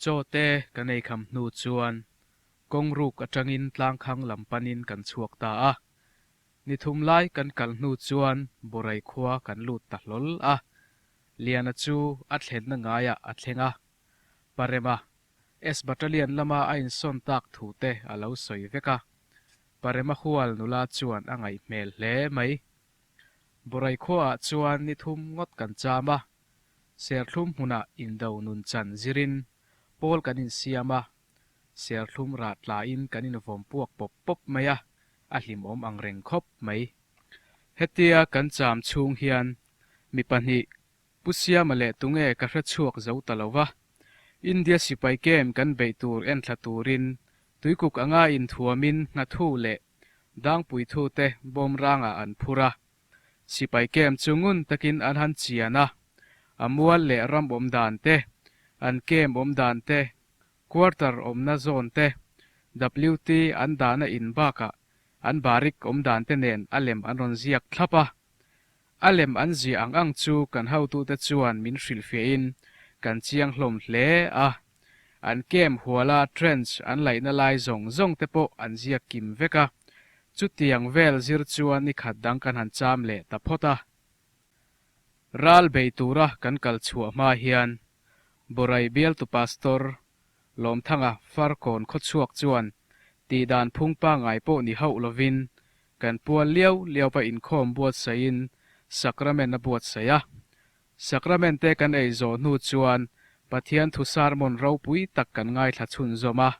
Chawte ka nei kham hnu chuan kawng ruk atangin tlangkhang lam panin kan chhuak ta a. Ni thum lai kan kal hnu chuan Borai khua kan lut ta hlawl a. Liana chu a thlenna ngaiah a thleng a, Parema S Battalion lama a insawn tak thu te a lo sawi vek a, Parema hual nula chuan a ngaih hmel hle mai. Borai khuaah chuan ni thum ngawt kan cham a, Serthlum hmunah indo nun chan zirin pawl kan insiam a, serthlum rat tlaiin kan invawm puak pawp pawp mai a, a hlimawm ang reng khawp mai. Hetia kan cham chhung hian mi pahnih Pu Siama leh tunge ka hre chhuak zo ta lo va, India sipai kem kan beih tur en thla turin tuikuk anga inthuamin hngathu leh dangpui thute bomb rangah an phur a, sipai kem chu ngun takin an han chian a, a mual leh ram awm dan te, an kem awm dan te, quarter awmna zone te, WT an dahna in bakah an barrick awm dan te nen a lem an rawn ziak thlap a, A lem an ziah ang ang chu kan hotute chuan min hrilh fiahin kan chiang hlawm hle a. An kem huala trench an laihna lai zawng zawng te pawh an ziak kim vek a. Chutiang vel zir chuan ni khat dang kan han cham leh ta phawt a. Ral bei tura kan kal chhuah hma hian Borai bialtu Pastor Lawmthanga Farkawn khawchhuak chuan tihdan phungpa ngai pawh ni hauh lovin Kan pual lio liopa inkhawm buatsahin Sacrament a buatsaih a. Sacrament te kan ei zawh hnu chuan Pathian thu sarmon ropui tak kan ngaithla chhunzawm a.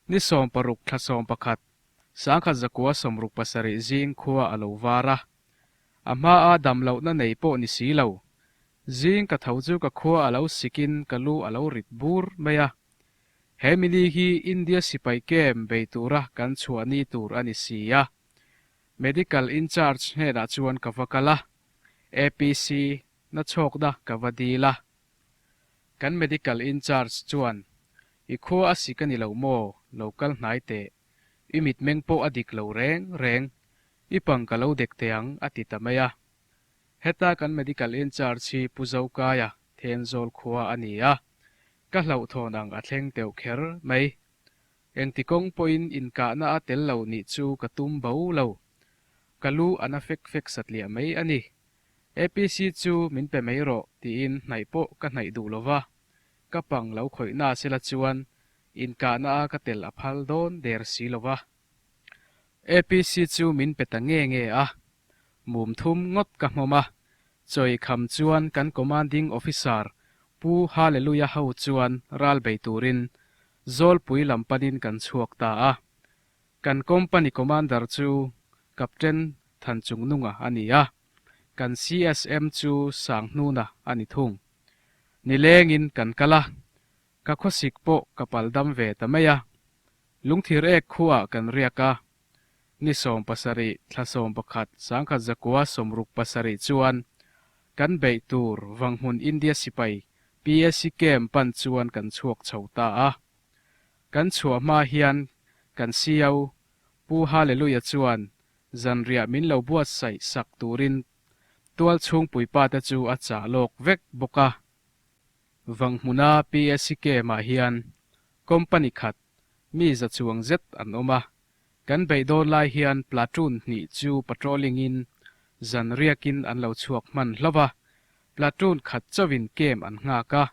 Ni sawm paruk thla sawm pakhat, sangkhat zakua sawmruk pasarih zing khua a lo var a. A hmaa damlohna nei pawh ni si lo. Zing ka tho chu ka khua a lo sikin ka lu a lo rit bur mai a. He mili hi India sipai kem bei tura kan chhuahni tur a ni si a, medical in charge hnenah chuan ka va kal a, APC na chhawkna ka va dil a. Kan medical in charge chuan, I khua a si ka ni lo maw, lo kal hnai teh, i mitmeng pawh a dik lo reng reng, i pang ka lo dek teh ang a ti ta mai a. Heta kan medical in charge hi Pu Zokaya Thenzawl khua a ni a, ka hlauhthawn ang a thleng teuh kher mai. Engti kawng pawhin inkahna a tel lo nih chu ka tum bo lo. Ka lu a na fek fek satliah mai a ni. APC chu min pe mai rawh tiin hnaih pawh ka hnaih duh lova, ka pang lo khawihna se la chuan inkahna a ka tel a phal dawn der si lova. APC chu min pe ta nge nge a, mum thum ngawt ka hnawm a, chawi kham chuan kan Commanding Officer Pu Haleluya ho chuan ral bei turin Zawlpui lam panin kan chhuak ta a, kan Company Commander chu Captain Thanchungnunga a ni a, kan CSM chu Sanghnuna a ni thung. Nilengin kan kal a, Ka khawsik pawh ka pal dam ve ta mai a, Lungthir ek khuaa kan riak a, ni sawm pasarih, thla sawm pakhat, sangkhat zakua sawmruk pasarih chuan kan beih tur Vanghmun India sipai PAC camp pan chuan kan chhuak chho ta a. Kan chhuah hma hian kan CEO Pu Haleluia chuan zanriah min lo buatsaih sak turin tualchhung puipa te chu a chah lawk vek bawk a, Vang hmuna PSCKM ah hian company khat mi za chuang zet an awm a, kan beih dawn lai hian platoon hnih chu patrolling in zanriak in an lo chhuak hman hlauh a, platoon khat chauh in kem an nghak a.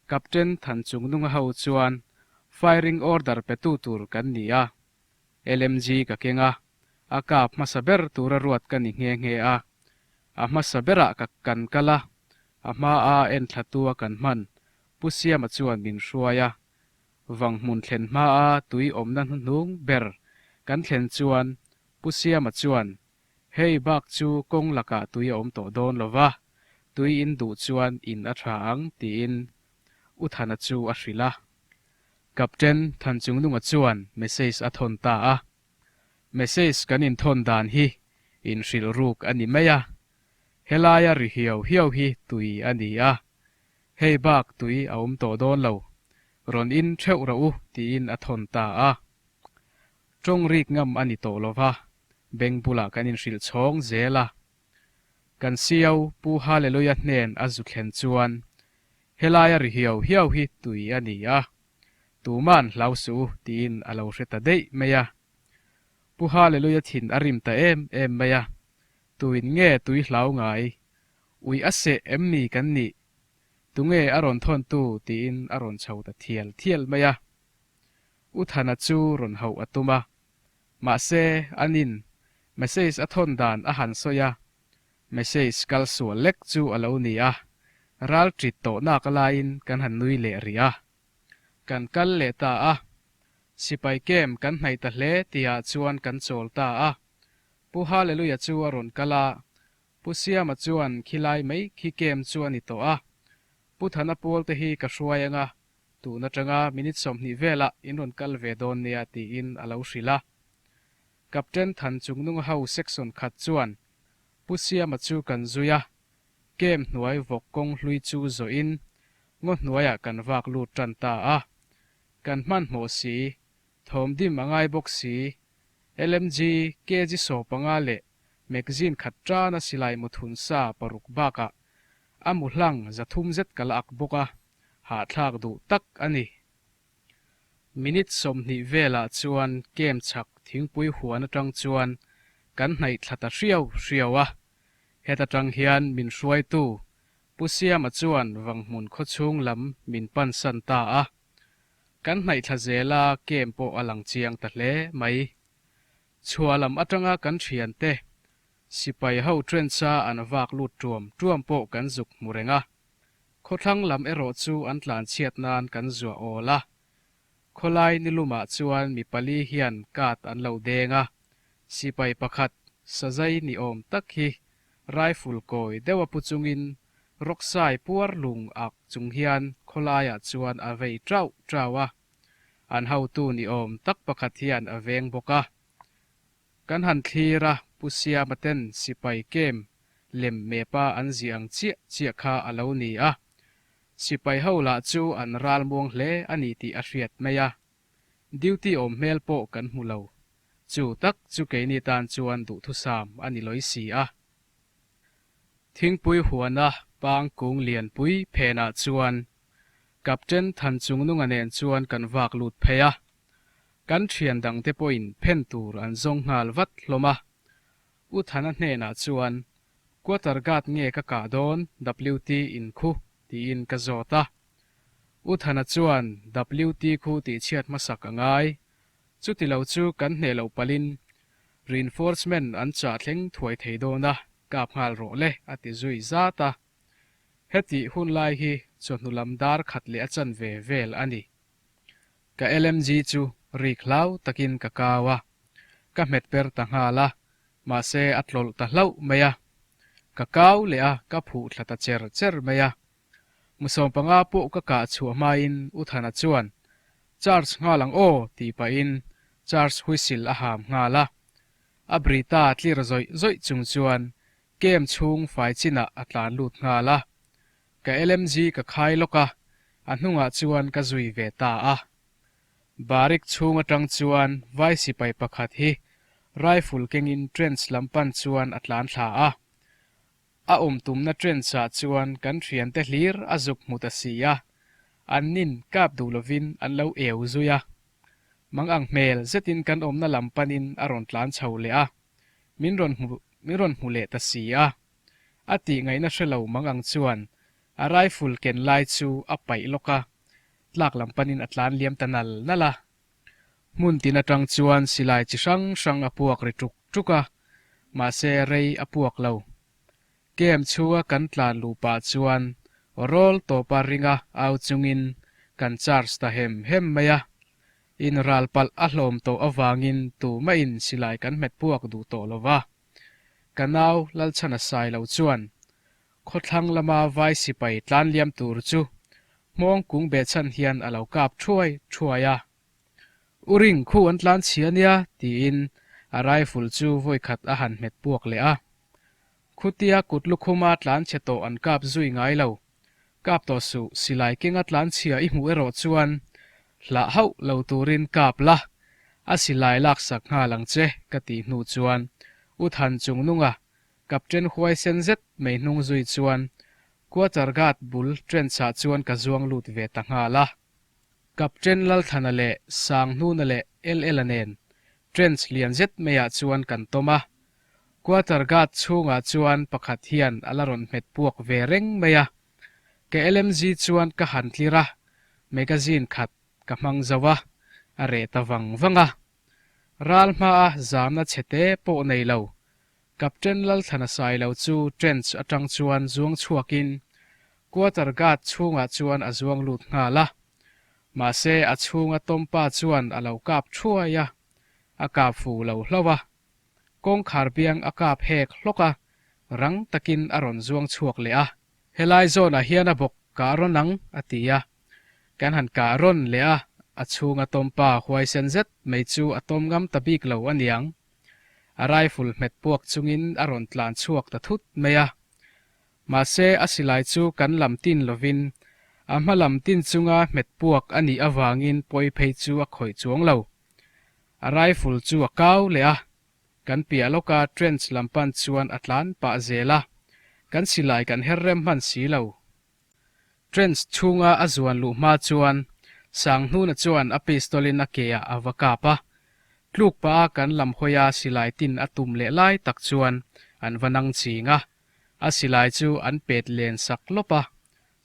Captain Thanchungnunga ho chuan firing order petu tur kan ni a, LMG ka keng a, a kap hmasa ber tura ruat ka ni nghe nghe a, a hmasa berah ka kan kal a, a hma a enthlatu a kan hman, Pu Siama chuan min hruai a, vang hmun thlen hma a tui awmna hnuhnung ber kan thlen chuan Pu Siama chuan, Hei bak chu kawng lakah tui a awm tawh dawn lova, tui in duh chuan in a tha ang tiin U Thana chu a hrilh a. Kapten Thanchungnunga chuan message a thawn ta a, Message kan inthawn dan hi inhrilhruk a ni mai a, helaia ri hiau hiau hi tui a ni a, hei bak tui a awm tawh dawn lo, rawn in theuh rawh u tiin a thawn ta a. Tawng rik ngam a ni tawh lova, bank bulah kan inhrilh chhawng zel a. Kan Sio Pu Haleluia hnen a zu thlen chuan, Helai a ri hiau hiau hi tui a ni a, tuma'n hlau suh u tiin a lo hre ta daih mai a. Pu Haleluia thin a rim ta em em mai a, tuin nge tui hlau ngai ui a seh em ni kan nih? Tunge a rawn thawntu tiin a rawn chho ta thial thial mai a. U Thana chu rawn hauh a tum a, Mahse, an in message a thawn dan a han sawi a, message kal sual lek chu a lo ni a, ral tit tawhnak laiin kan han nui leh rih a. Kan kal leh ta a, sipai kem kan hnaih ta hle tihah chuan kan chawl ta a. Pu Haleluia chu a rawn kal a, Pu Siama chuan khi lai mai khi kem chu a ni tawh a, Pu Thana Pawl te hi ka hruai anga Tun atanga minute sawmhnih velah in rawn kal ve dawn nia tiin a lo hrilh a. Captain Than Chung Nung ho section khat chuan Pu Siama chu kan zui a, Kem hnuai vawk kawng hlui chu zawhin ngaw hnuaiah kan vak lut tan ta a. Kan hmanhmawh si, thawm dim a ngai bawk si, LMG kg saw panga leh magzine khat tana silai muthun sa paruk bakah a muhlang za thum zet ka la ak bawk a. hahthlak duh tak a ni. Minute sawmhnih velah chuan kem chhak thingpui huan atang chuan kan hnaihtla ta hriau hriau a, heta tang hian min hruaitu Pu Siama chuan vang hmun khawchhung lam min pansan ta a, kan hnaihtla zela kem pawh a lang chiang ta hle mai. Chhuah lam atanga kan thiante sipai ho trench-a an vak lut tuam tuam pawh kan zuk hmu reng a, Khawthlang lam erawh chu an tlan chhiat nan kan zuah awl a, khawlai nilumah chuan mi pali hian cut an lo deng a, sipai pakhat Sajai ni awm tak hi rifle kawi deuh a pu chungin Roksai puar lung ak chung hian khawlaiah chuan a vei trauh trauh a, an hotu ni awm tak pakhat hian a veng bawk a. Kan han thlir a, Pu Siama ten sipai kem lem mepa an zia ang chiah chiah kha a lo ni a, sipai ho lah chu an ral muang hle a ni tih a hriat mai a, duty awm hmel pawh kan hmu lo, chu tak chu keini tan chuan duhthusam a ni lawi si a. Thingpui huana Pang Kung Lianpui Phena chuan Captain Thanchungnunga nen chuan kan vak lut phei a, kan thian dang te pawhin phen tur an zawng nghal vat hlawm a. U Thana hnenah chuan, Quarter guard nge ka kah dawn WT in khu? tiin ka zawt a. U Thana chuan WT khu tih chhiat hmasak a ngai. Chuti lo chu kan hneh lo palhin Reinforcement an chah thleng thuai thei dawn a, kap nghal rawh le a ti zui zat a. Hetih hun lai hi chawhnulam dar khat leh a chanve vel a ni. Ka lmg chu rik hlau takin ka kau a, ka hmet per ta nghal a, mahse a tlawlh ta hlauh mai a. Ka kau leh a, ka phuh thla ta cher cher mai a. Mu sawm panga pawh ka kah chhuah hmain U Thana chuan, Charge nghal ang aw tih pahin charge whistle a ham nghal a. A Brita tlir zawih zawih chung chuan Camp chhung fai chinah a tlan lut nghal a, ka LMG ka khai lawk a, a hnungah chuan ka zui ve ta a. Barrick chhung atang chuan vai sipai pakhat hi rifle kengin trench lam pan chuan a tlan thla a, a awm tumna trench ah chuan kan hrian te hlir a zuk hmu ta si a, an nin kap duh lovin an lo eu zui a, mang ang hmel zetin kan awmna lam panin a rawn tlan chho leh a. min rawn hmu min rawn hmu leh ta si a, a tih ngaihna hre lo mang ang chuan a rifle ken lai chu a paih lawk a, tlak lam panin a tlan liam ta nal nal a. Hmun tin atang chuan silai chi hrang hrang a puak ri tuk tuk a, mahse rei a puak lo. Camp chhunga kan tlan luh pah chuan rawl tawpa ringa au chungin kan charge ta hem hem mai a, In ral palh a hlawm tawh avangin tu mahin silai kan hmet puak duh tawh lo va. Ka nau Lalchhana sai lo chuan khawthlang lama vai sipai tlanliam tur chu hmawng kung beh chhan hian a lo kap thuai thuai a. U Ring khu an tlan chhia nia tiin a rifle chu vawikhat a han hmet puak leh a. Khutia kut lukhuma tlan chhe tawh an kap zui ngai lo. Kap tawh suh, silai kenga tlanchhia i hmuh erawh chuan hlah hauh lo turin kap la, a silai laksak nghal ang che ka tih hnu chuan U Than chung nunga Captain huaisen zet mai hnung zui chuan quarter guard bul trenchah chuan ka zuang lut ve ta nghal a. Captain Lalthana leh Sanghnuna leh LL-a nen trench lian zet maiah chuan kan tawm a. Quarter guard chhungah chuan pakhat hian a la rawn hmet puak ve reng mai a, ka LMG chuan ka han tlir a, magazine khat ka hmang zo a, a reh ta vang vang a. Ral hmaa zâwna chhe te pawh nei lo, Captain Lalthana Sailo chu trench atang chuan zuang chhuakin quarter guard chhungah chuan a zuang lut nghal a, mahse a chhunga Tompa chuan a lo kap thuai a, a kap fu lo hlo a. kawngkhar biang a kap hek hlawk a, rang takin a rawn zuang chhuak leh a. Helai zawnah hian a bawk kah rawh nang a ti a, kan han kah rawn leh a, a chhunga tawmpa huaisen zet mai chu a tawm ngam ta bik lo a niang. A rifle hmet puak chungin a rawn tlan chhuak ta thut mai a. Mahse a silai chu kan lam tin lovin a hma lam tin chunga hmet puak a nih avangin pawi phei chu a khawih chuang lo. A rifle chu a kau leh a, kan piah lawka trench lam pan chuan a tlan pah zel a, kan silai kan her rem hman si lo. Trench chhunga a zuan luh hma chuan Sanghnuna chuan a pistol in a ke ah a va kap a, tluk pah a kan lam hawia silai tin a tum leh lai tak chuan an va nang ching a, a silai chu an pet len sak lawp a,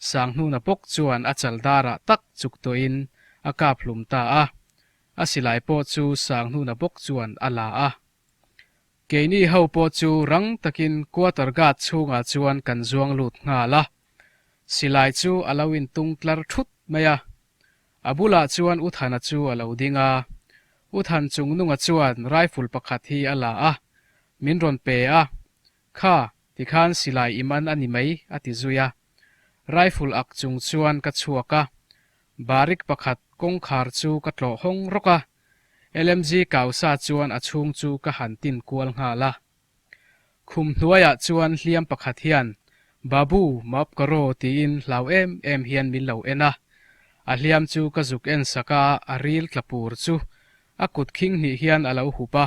Sanghnuna bawk chuan a chal darah tak chuk tawh in a kap hlum ta a, A silai pawh chu sang hnuna bawk chuan a la a. Keini ho pawh chu rang takin quarter guard chhungah chuan kan zuang lut nghal a. Silai chu a lo in tung tlar thut mai a. A bulah chuan U Thana chu a lo ding a. U Than chungnunga chuan rifle pakhat hi a la a. Min rawn pe a. Kha, tikhan silai i man a ni mai, a ti zui a. Rifle ak chung chuan ka chhuak a, barrick pakhat kawngkhar chu ka tlawh hawng rawk a, LMG kau sa chuan a chhung chu ka han tin kual nghal a. Khum hnuaiah chuan hliam pakhat hian Babu, maap ka raw tiin hlau em em hian min lo en a, a hliam chu ka zuk en sak a, a ril tla pur chu a kut khing hnih hian a lo hup a,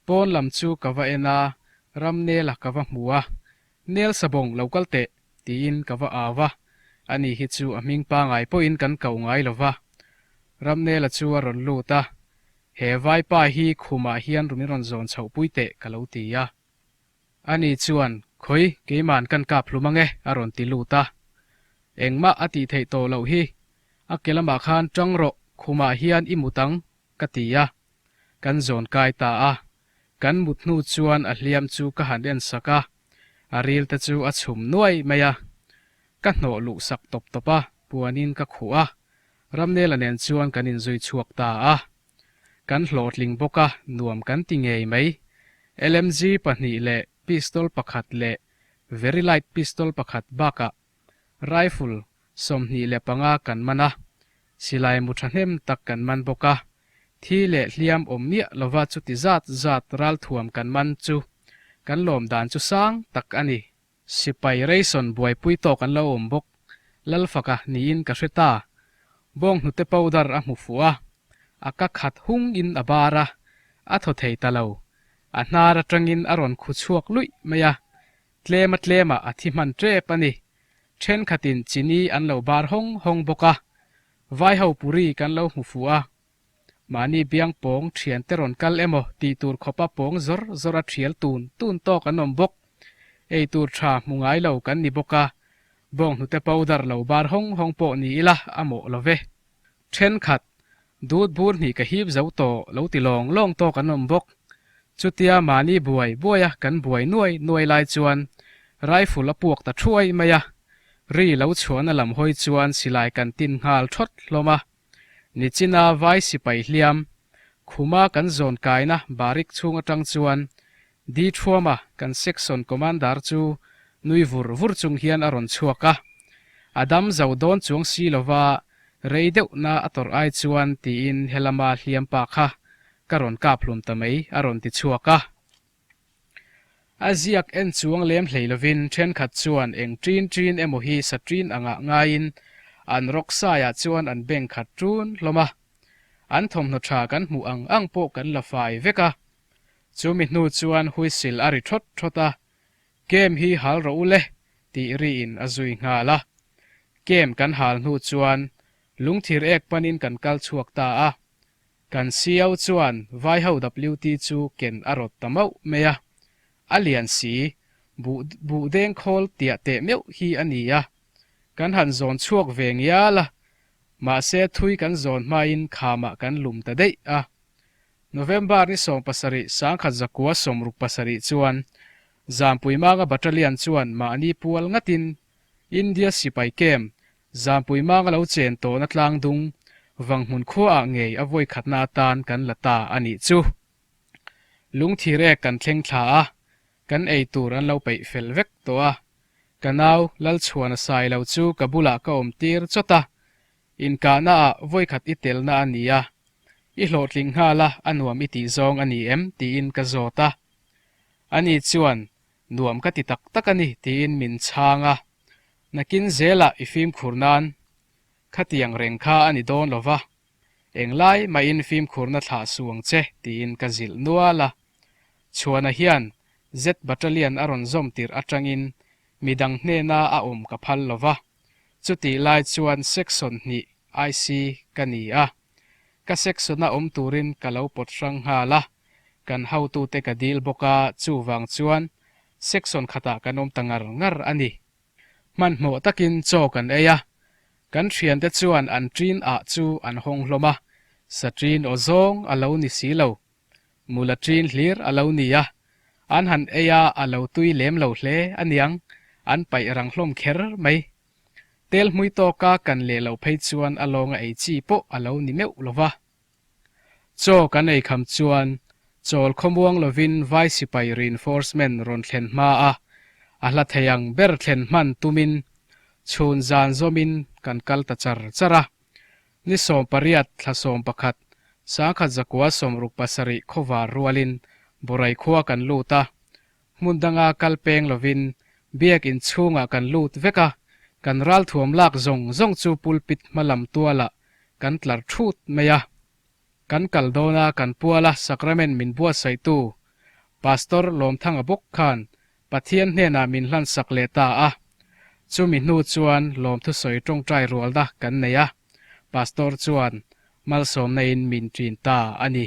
Pawn lam chu ka va en a, ram nel a ka va hmu a, nel sabawng lo kal teh tiin ka va au a, a ni hi chu a hming pangai pawhin kan kau ngai lo va, ram nela chu a rawn lut a, he vaipa hi khumah hian rumin rawn zawn chhoh pui teh ka lo ti a, a ni chuan khawi keiman kan kap hlum ange a rawn ti lut a, engmah a tih theih tawh loh hi, a ke lamah khan tang rawh khumah hian i mut ang ka ti a, kan zawn kai ta a, kan mut hnu chuan a hliam chu ka han en sak a, a ril te chu a chhum nuai mai a, ka hnawh luh sak tawp tawp a, puanin ka khuh a, Ramnela nen chuan kan in zui chhuak ta a, kan hlawhtling bawk a, nuam kan ti ngei mai, LMG pahnih leh pistol pakhat leh very light pistol pakhat bakah Rifle sawmhnih leh panga kan man a, silai mu thahnem tak kan man bawk a, thi leh hliam awm miah lova chuti zat zat ralthuam kan man chu kan lawm dan chu sang tak a ni. Sipai reison buaipui tawk an lo awm bawk, Lalfaka niin ka hre ta. Bawng hnute powder a hmu fuh a, a ka khat hung in a bar a, a thaw thei ta lo, a hnar atangin a rawn khu chhuak luih mai a, Tlema tlema a thi hman tep a ni. Thenkhatin chini an lo bar hawng hawng bawk a, vaiho puri kan lo hmu fu a, mahni biang pawng thiante rawn kal emaw tih tur khawpa pawng zawr zawr a thial tun tun tawk an awm bawk. Ei tur tha hmu ngai lo kan ni bawk a, bawnghnute powder lo bar hawng hawng pawh ni ila a mawh lo ve. Thenkhat, Dûtbur hnih ka hîp zo tawh lo ti lawng lawng tawk an awm bawk. Chutia mahni buai buaia kan buai nuai nuai lai chuan Rifle a puak ta ṭhuai mai a. Ri lo chhuahna lam hawi chuan silai kan tin nghal ṭhawt hlawm a. Nichina vai sipai hliam khuma kan zawn kaina barrick chhung aṭang chuan Dithuama kan section commander chu nui vur vur chung hian a rawn chhuak a, a dam zo dawn chuang si lova rei deuhna a tawrh ai chuan tiin helama hliampa kha ka rawn kap hlum ta mai a rawn ti chhuak a. A ziak en chuang lem hlei lovin thenkhat chuan eng ṭin ṭin emaw hi saṭin angah ngaiin an rawk saiah chuan an beng khat ṭun hlawm a, an thawmhnaw ṭha kan hmuh ang ang pawh kan la fai vek a. Chu mi hnu chuan huisil a ri thawt thawt a, Game hi hal rawh u le, tih ri in a zui nghal a. Game kan hal hnu chuan lungthir ek panin kan kal chhuak ta a. Kan CEO chuan vaiho WT chu ken a rawt ta mauh mai a, a lian si, buh buh deng khawl tiah teh meuh hi a ni a, kan han zawn chhuak ve ngial a, mahse thui kan zawn hmain khamah kan lum ta daih a. November ni sawm pasarih sangkhat zakua sawm ruk pasarih chuan Zampui Manga Battalion chuan mahni pual ngatin India sipai camp Zampui Manga lo chen tawhna Tlangdung vang hmun khuaah ngei a vawikhatna atan kan la ta a nih chu. Lungthir ek kan thleng thla a, kan ei tur an lo peih fel vek tawh a. Ka nau Lalchhuana Sailo chu ka bulah ka awm tir chawt a, Inkahna ah vawikhat i telna a ni a, i hlawhtling nghal a a nuam i tih zawng a ni em? tiin ka zawt a. Ani chuan, Nuam ka ti tak tak a ni, tiin min chhang a. Nakin zela i fimkhur nan khatiang reng kha a ni dawn lo va, eng lai mahin fimkhurna thlah suang che, tiin ka zilh nual a. Chhuana hian Z Battalion a rawn zawm tirh atangin midang hnena a awm ka phal lo va. Chutih lai chuan section hnih IC ka ni a, ka section a awm turin ka lo pawt hrang nghal a, kan hotute ka dil bawk a, chuvang chuan section khatah kan awm ta ngar ngar a ni. Hmanhmawh takin chaw kan ei a, kan thiante chuan an ṭin ah chu an hawng hlawm a, Satrin aw zawng a lo ni si lo Mula ṭin hlir a lo ni a, an han ei a a lo tui lem lo hle a niang, an paih rang hlawm kher mai. Tel hmui tawk a kan leh lo phei chuan a lawnga ei chi pawh a lo ni meuh lo va. Chaw kan ei kham chuan chawl khawmuang lovin vai sipai reinforcement rawn thlen hma a, a hla thei ang ber thlen hman tumin chhun zan zawmin kan kal ta char char a. Ni sawm pariat, thla sawm pakhat, sang khat zakua sawmruk pasarih khawvar rualin Borai khua kan lut a. Hmun danga kal peng lovin biak in chhungah kan lut vek a, kan ral thuam lak zawng zawng chu pulpit hma lam tualah kan tlar thut mai a. Kan kal dawn a, kan puala sacrament min buatsaihtu Pastor Lawmthanga bawk khan Pathian hnenah min hlansak leh ta a, chumi hnu chuan lawmthusawi tawngtai rualna kan nei a, Pastor chuan malsawmna in min ṭin ta a ni.